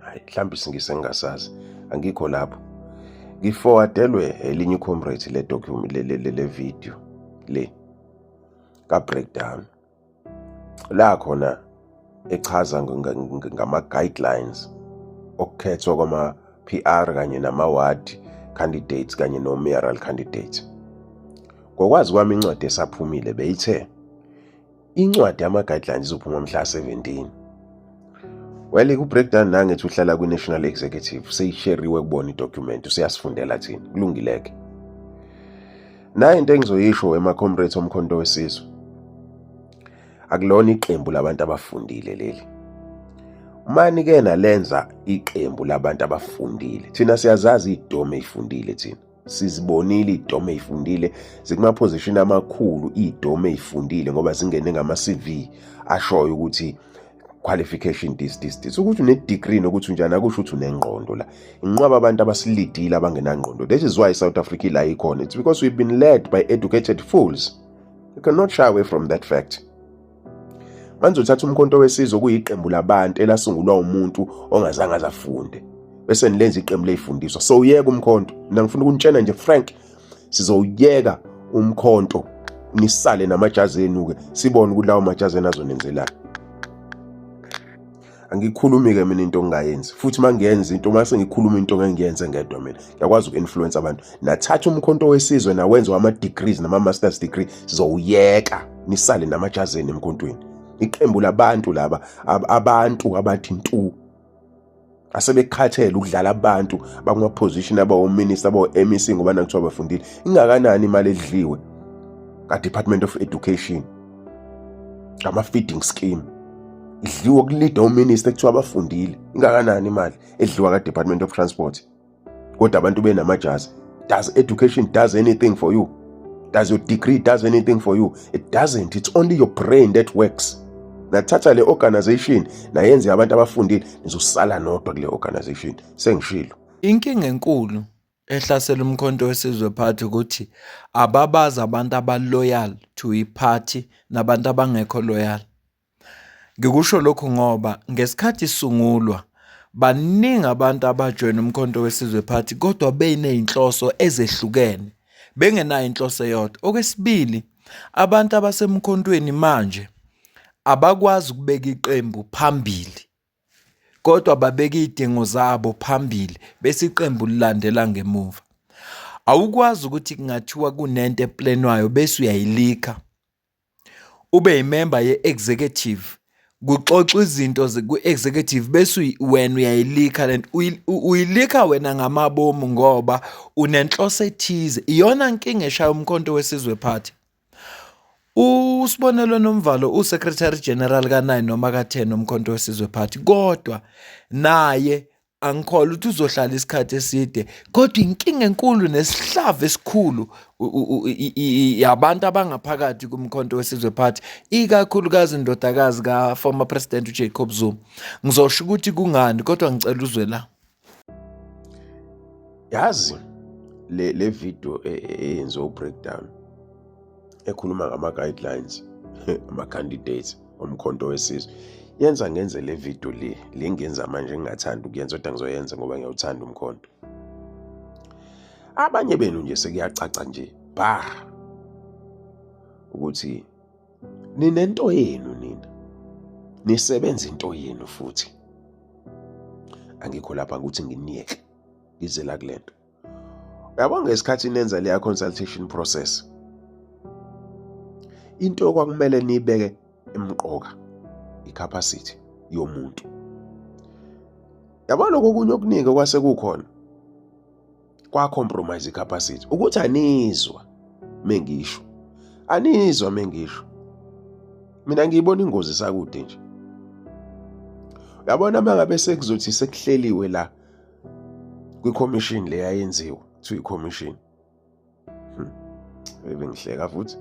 hayi mhlawumbe isingise ngingasazi angikho lapho ngifowadelwe elinye icomrade le document le, le, le, le video le ka-breakdown la khona echaza ngama-guidelines okukhethwa kwama-p r kanye nama-ward candidates kanye no-mayoral candidates ngokwazi kwami incwadi esaphumile beyithe Incwadi yama-guidelines izophuma mhla 17. Well, ku-breakdown nangethi uhlala kwi-national executive seyisheriwe kubona idocument useyasifundela thina kulungileke nayo into engizoyisho wema-comrades omkhonto wesizwe akulona iqembu labantu abafundile leli mani ke nalenza iqembu labantu abafundile thina siyazazi idome ifundile thina sizibonile idome eyifundile zikumaphozishini amakhulu idome eyifundile ngoba zingene ngama CV ashoyo ukuthi qualification this this this ukuthi une degree nokuthi unjani akusho ukuthi unengqondo la inqwaba abantu abasilidile abangenangqondo that is why South Africa la ikhona it's because we've been led by educated fools you cannot shy away from that fact Manje uthatha umkhonto wesizwe kuyiqembu labantu elasungulwa umuntu ongazange azafunde bese nilenza iqembu leyifundiswa so uyeka umkhonto mina ngifuna ukunitshena nje frank sizowuyeka umkhonto nisale namajazi enu-ke sibone ukuthi lawo majazi enu azonenzelani angikhulumi ke mina into engingayenzi futhi uma ngiyenza into uma sengikhuluma into ngengiyenze ngedwa mina ngiyakwazi uku-influence abantu nathatha umkhonto wesizwe nawenza wama-degrees nama-masters degree zowuyeka nisale namajazeni emkhontweni iqembu labantu laba abantu abathi ntu asebekhathele ukudlala abantu bakuma-position abawominista abawo-mec ngoba nakuthiwa bafundile ingakanani imali edliwe kadepartment of education ngama-feeding scheme idliwa kulida uminista ekuthiwa abafundile ingakanani imali edliwa ka-department of transport kodwa abantu benamajazi does education does anything for you does your degree does anything for you it doesn't it's only your brain that works nathatha le organization nayenze abantu abafundile nizosala nodwa kule organization sengishilo inkinga enkulu ehlasela umkhonto wesizwe party ukuthi ababazi abantu abaloyal to i-party nabantu abangekho loyal ngikusho lokhu ngoba ngesikhathi isungulwa baningi abantu abajoyina umkhonto wesizwe party kodwa benezinhloso ezehlukene bengenayo inhloso eyodwa okwesibili abantu abasemkhontweni manje abakwazi ukubeka iqembu phambili kodwa babeka iy'dingo zabo phambili bese iqembu lilandela ngemuva. Awukwazi ukuthi kungathiwa kunento eplenwayo bese uyayilikha. Ube yimemba ye-executive kuxoxwa izinto ku-executive bese wena uyayilikha lento uyilikha wena ngamabomu ngoba unenhloso ethize iyona nkinga eshaya umkhonto wesizwe phathi. USibonelo Nomvalo uSecretary General ka-9 noma ka-10 Umkhonto Wesizwe Party kodwa naye angikholwa ukuthi uzohlala isikhathi eside kodwa inkinga enkulu nesihlava esikhulu yabantu abangaphakathi kumkhonto wesizwe party ikakhulukazi indodakazi ka-former president ujacob zuma ngizosho ukuthi kungani kodwa ngicela uzwe la yazi le le video e, e, eyenze u breakdown ekhuluma ngama guidelines ama candidates omkhonto wesizwe yenza ngenze le video le lengenza manje ngingathanda ukuyenza kodwa ngizoyenza ngoba ngiyawuthanda umkhonto abanye benu nje sekuyacaca nje bah ukuthi ninento yenu nina nisebenza into yenu futhi angikho lapha ukuthi nginiyeke ngize la kule nto yabo ngesikhathi nenza leya consultation process into okwakumele niyibeke emqoka icapacity yomuntu yabo lokho kunye okuningi okwase kukhona kwa compromise icapacity ukuthi anizwa mengisho anizwa mengisho mina ngiyibona ingozi sakude nje uyabona mangabe sekuzothi sekuhleliwe la kwi-commission le yayenziwa kuthiwa i-commission hmm. ebengihleka futhi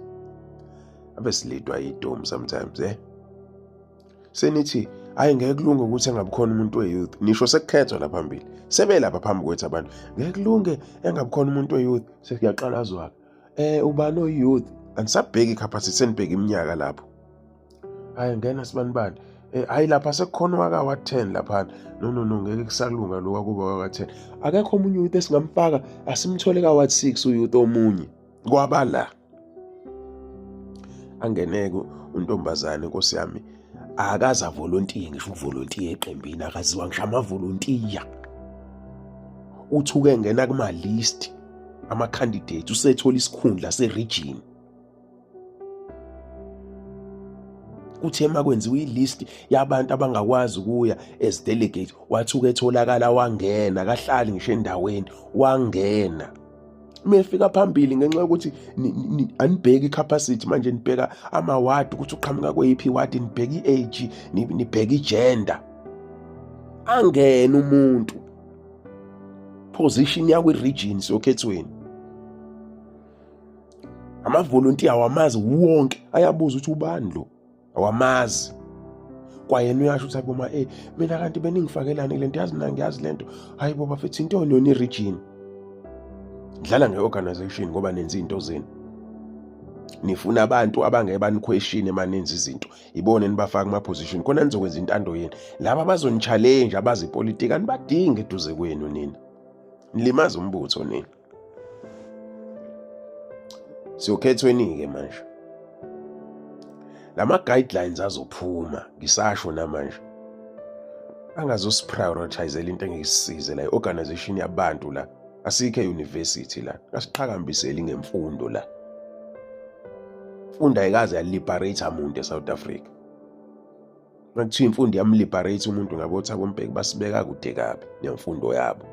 abe silidwa yidomu sometimes eh senithi hayi ngeke kulunge ukuthi engabikhona umuntu we-youth nisho sekukhethwa la phambili sebelapha phambi kwethu abantu ngeke kulunge engabikhona umuntu we-youth sekuyaqalazwaka um eh, ubani oyi-youth andisabheki ikhaphasithi senibheke iminyaka lapho hhayi ngena sibanibani um eh, hhayi lapha sekukhona owaka wa-ten laphana no no no ngeke kusalunga lo wakuba waka-ten akekho omunye uyouth esingamfaka asimthole ka-wat six uyouth omunye kwabala angeneke untombazane nkosi yami akaza volontiye ngisho uvolontiye eqembini akaziwa ngisho amavolontiya uthuke ngena kuma list ama candidate usethola isikhundla se region kuthe makwenziwa ilist yabantu abangakwazi ukuya as delegate wathuka etholakala wangena kahlali ngisho endaweni wangena uma efika phambili ngenxa yokuthi anibheki i-capacity manje nibheka amawadi ukuthi uqhamuka kweyiphi iwadi nibheka i-age nibheka i-gender angene umuntu position yakwi-region sokhethweni amavolontiya awamazi wonke ayabuza ukuthi ubani lo awamazi kwayena uyasho ukuthi aboma eh mina kanti beningifakelani lento yazi mina ngiyazi lento hayi bo bafethu into yona yona iregion dlala ngeorganization ngoba nenza into zenu nifuna abantu abangeke baniquestion emanenza izinto ibone nibafaka kuma position khona nizokwenza intando yenu laba bazonichallenge abazi politics anibadingi eduze kwenu nina nilimaza umbutho nina siyokhethweni-ke manje la ma-guidelines azophuma ngisasho namanje angazosiprioritizela into engeyisize la i-organization yabantu la asikho e-university la asiqhakambiseli ngemfundo la funda ayikaze yaliberate muntu e-south africa Kuthiwa imfundo yamliberate umuntu ngabo Thabo Mbeki basibeka kude kabi nemfundo yabo.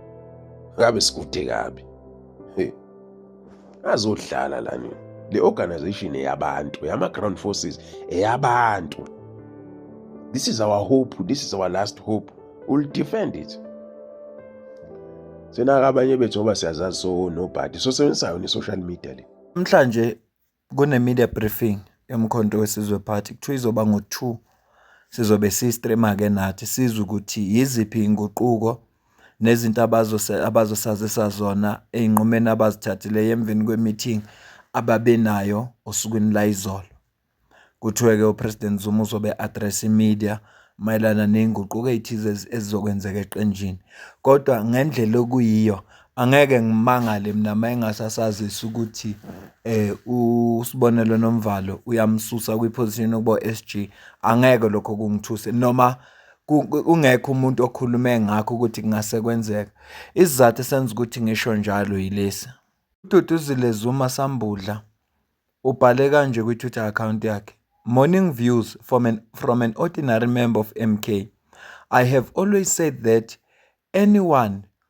Ngabe sikude kabi. Hey. Azodlala la nini? Le organization eyabantu, yama ground forces eyabantu. This is our hope, this is our last hope. We'll defend it. Sena abanye bethu ngoba siyazazi so nobody. So sebenzisayo ni social media le. Namhlanje Kune-media briefing yoMkhonto weSizwe Party, kuthiwa izoba ngo-two. Sizobe si-stream-ke nathi sizwe ukuthi yiziphi iy'nguquko nezinto abazosazisa zona ey'nqumeni abazithathileyo emveni kwe-meeting ababe nayo osukwini layizolo. Kuthiwe-ke uPresident Zuma uzobe e-address-a i-media mayelana ney'nguquko ey'thize ezizokwenzeka eqenjini. Kodwa ngendlela okuyiyo Angeke ngimangale mina uma engase asazise ukuthi uSbonelo Nomvalo uyamususa kwi-position yokuba u-S_G. Angeke lokho kungithuse noma kungekho umuntu okhulume ngakho ukuthi kungase kwenzeka. Isizathu esenza ukuthi ngisho njalo yilesi, uDuduzile Zuma Sambudla ubhale kanje kwi-Twitter akhawunti yakhe, Morning views from an from an ordinary member of M_K. I have always said that anyone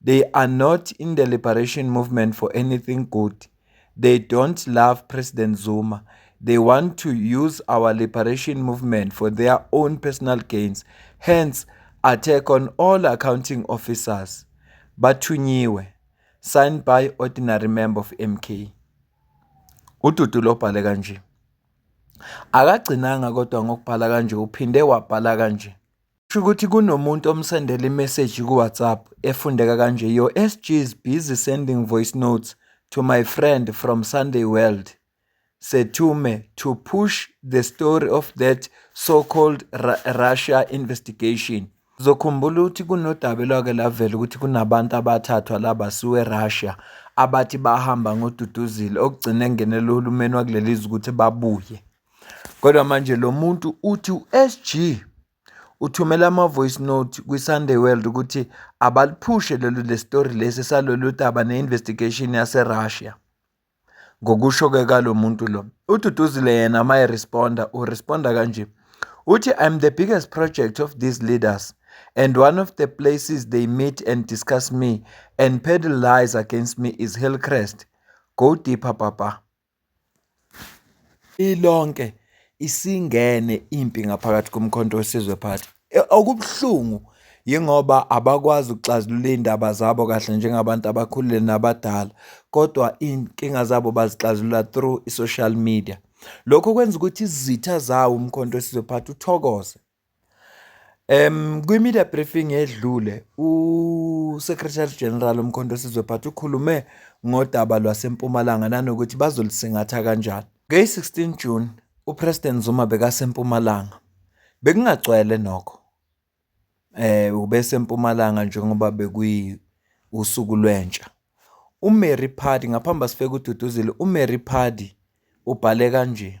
They are not in the liberation movement for anything good. They don't love President Zuma. They want to use our liberation movement for their own personal gains. Hence, attack on all accounting officers. Bathunyiwe. Signed by ordinary member of MK. Ududu lobhale kanje. Akagcinanga kodwa ngokubhala kanje uphinde wabhala kanje. Shukuthi kunomuntu omsendela imessage ku WhatsApp efundeka kanje your SG is busy sending voice notes to my friend from Sunday World Sethume to push the story of that so called Russia investigation Zokhumbula ukuthi kunodaba elwake lavela ukuthi kunabantu abathathwa laba suwe Russia abathi bahamba ngoduduzile okugcine engenela uhulumeni wakuleli ukuthi babuye Kodwa manje lo muntu uthi uSG uthumela ama-voice note kwiSunday World ukuthi abaliphushe lolu lesitori lesi salolu daba ne-investigation yaseRussia. Ngokusho-ke kalo muntu lo, uDuduzile yena uma eresponda, uresponda kanje. Uthi, I'm the biggest project of these leaders and one of the places they meet and discuss me and peddle lies against me is Hillcrest. Go deeper, Papa. Ilonke isingene impi ngaphakathi koMkhonto weSizwe Party. Okubuhlungu yingoba abakwazi ukuxazulula iy'ndaba zabo kahle njengabantu abakhulile nabadala kodwa iy'nkinga zabo bazixazulula through i-social media. Lokho kwenza ukuthi izitha zawo uMkhonto weSizwe Party uthokoze. Em kwi-media briefing edlule uSecretary General uMkhonto Sizwe Phathi ukhulume ngodaba lwaseMpumalanga nanokuthi bazolisingatha kanjani. Ngeyi-16 June uPresident Zuma bekaseMpumalanga. Bekungagcwele nokho. Eh ubeseMpumalanga njengoba bekuyi usuku lwentsha. UMary Phadi ngaphambi asifeke ududuzile uMary Phadi ubhale kanje.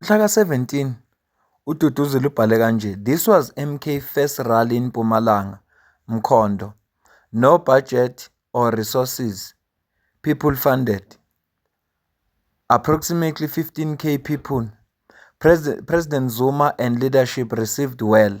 Mhla ka-17 uDuduzile ubhale kanje, This was MK first rally in Mpumalanga, Mkhondo, no budget or resources, people funded, approximately 15k people, President Zuma and leadership received well,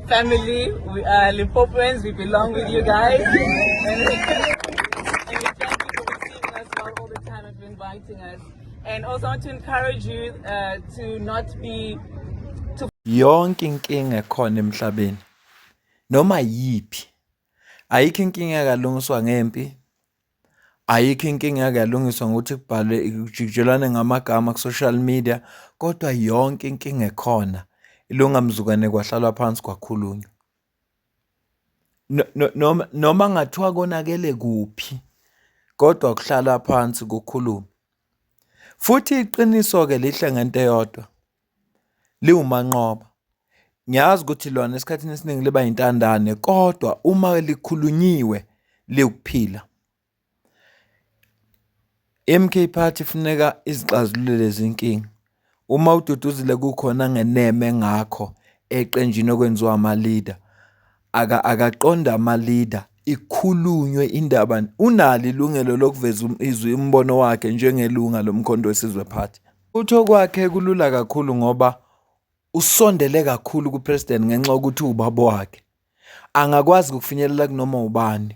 Family, we are Lipopoans, we belong with you guys. And also want to encourage you uh, to not be to yonke inkinga ekhona emhlabeni noma yiphi ayikho inkinga ekalungiswa ngempi Ayikho inkinga eyake yalungiswa ngokuthi kubhalwe kujikijelwane ngamagama ku-social media kodwa yonke inkinga ekhona ilunga mzukwane kwahlalwa phansi kwakhulunywa. Noma noma kungathiwa konakele kuphi kodwa kuhlalwa phansi kukhulume. Futhi iqiniso-ke lihle ngento eyodwa. liwumanqoba. Ngiyazi ukuthi lona esikhathini esiningi liba yintandane kodwa uma likhulunyiwe liwukuphila. I-MK Party ifuneka izixazulule lezi nkinga. Uma uDuduzile kukhona angeneme ngakho eqenjini okwenziwa ama-leader, Aka akaqonda ama leader ikhulunywe indaba unalo ilungelo lokuveza um, izwi umbono wakhe njengelunga lomkhonto wesizwe party utho kwakhe kulula kakhulu ngoba usondele kakhulu kupresident ngenxa yokuthi ubaba wakhe angakwazi ukufinyelela kunoma ubani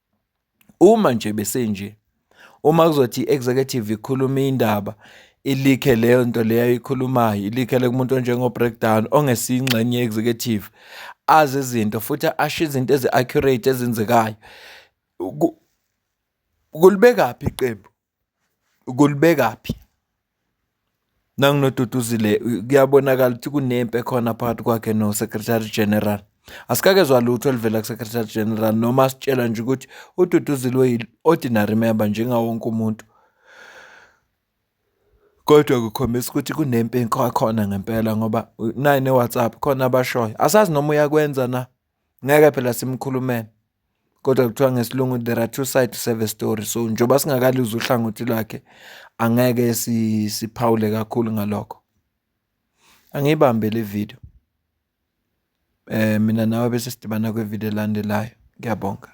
Uma nje besenje uma kuzothi i-executive ikhulume indaba ilikhe leyo nto leyo ayikhulumayo ilikhele kumuntu onjengo-breakdown ongesiyingxenye ye-executive azi izinto futhi asho izinto ezi-accurate ezenzekayo kulibekaphi iqembu kulibekaphi? Nangu noDuduzile kuyabonakala ukuthi kunempi ekhona phakathi kwakhe no-Secretary General. Asikakezwa lutho oluvela ku-Secretary General noma asitshela nje ukuthi uDuduzile uyi-ordinary member njengawo wonke umuntu. Kodwa kukhombisa ukuthi kunempi ekhona ngempela ngoba nayi ne-WhatsApp khona abashoyo. Asazi noma uyakwenza na ngeke phela simkhulumele kodwa kuthiwa ngesilungu there are two sides to every story so njengoba singakaluzi uhlangothi lwakhe angeke siphawule kakhulu ngalokho angiyibambe le video eh mina nawe bese sidibana kwe video elandelayo ngiyabonga